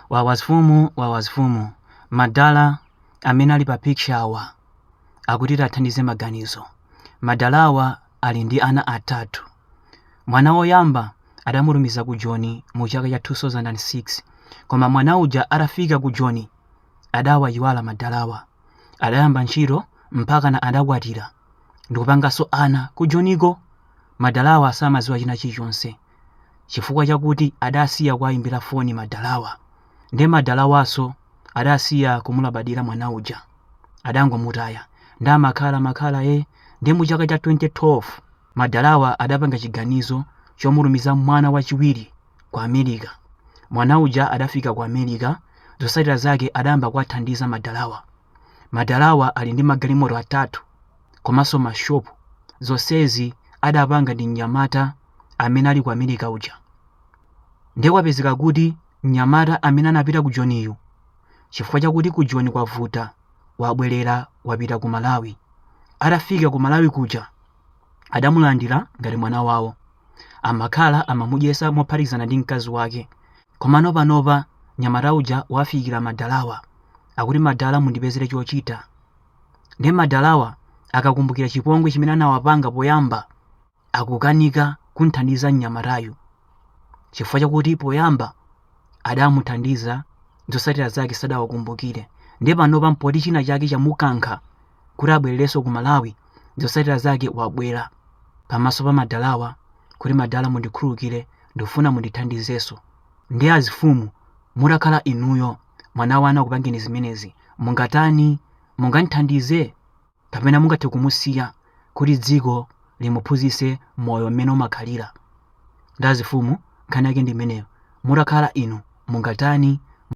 Wawa azifumu wawa azifumu madala amene ali pa picture awa akuti tathandize maganizo madalawa ali ndi ana atatu mwana woyamba adamutumiza ku joni mu chaka cha 2006 koma mwana uja atafika ku joni adawayiwala madalawa adayamba ntchito mpakana adakwatira ndikupanganso ana ku joniko madalawa samaziwa china chilichonse chifukwa chakuti adasiya kuwayimbira foni madalawa nde madalawaso adasiya kumulabadira mwana uja adangomutaya nde amakhala makhala e nde mu chaka cha 2012 madalawa adapanga chiganizo chomutumiza mwana wachiwiri ku America mwana uja atafika ku America zosatira zake adayamba kuwathandiza madalawa madalawa ali ndi magalimoto atatu komaso ma shop zosezi anapanga ndi mnyamata amene ali ku America uja. Ndiye kwapezeka kuti mnyamata amene anapita ku Joniyu chifukwa chakuti ku Joni kwavuta wabwerera wapita ku Malawi. Atafika ku Malawi kuja adamulandira ngati mwana wawo. Amakhala amamudyesa mophatikizana ndi mkazi wake. Komano panopa mnyamata uja wafikira madalawa. Akuti madala mundipezere chochita. Ndiye madalawa akakumbukira chipongwe chimene anawapanga poyamba akukanika kum'thandiza mnyamatayu chifukwa chakuti poyamba adamuthandiza zotsatira zake sadawakumbukire ndiye panopa mpoti china chake chamukankha kuti abwererenso ku malawi zotsatira zake wabwera pamaso pa madalawa kuti madala mundikhululukire ndikufuna mundithandizenso ndiye azifumu mutakhala inuyo mwana wanu akupangeni zimenezi mungatani mungamuthandize kapena mungathe kumusiya kuti dziko limuphunzitse moyo mmene umakhalira nde azifumu nkhani yake ndi imeneyo mutakhala inu mungatani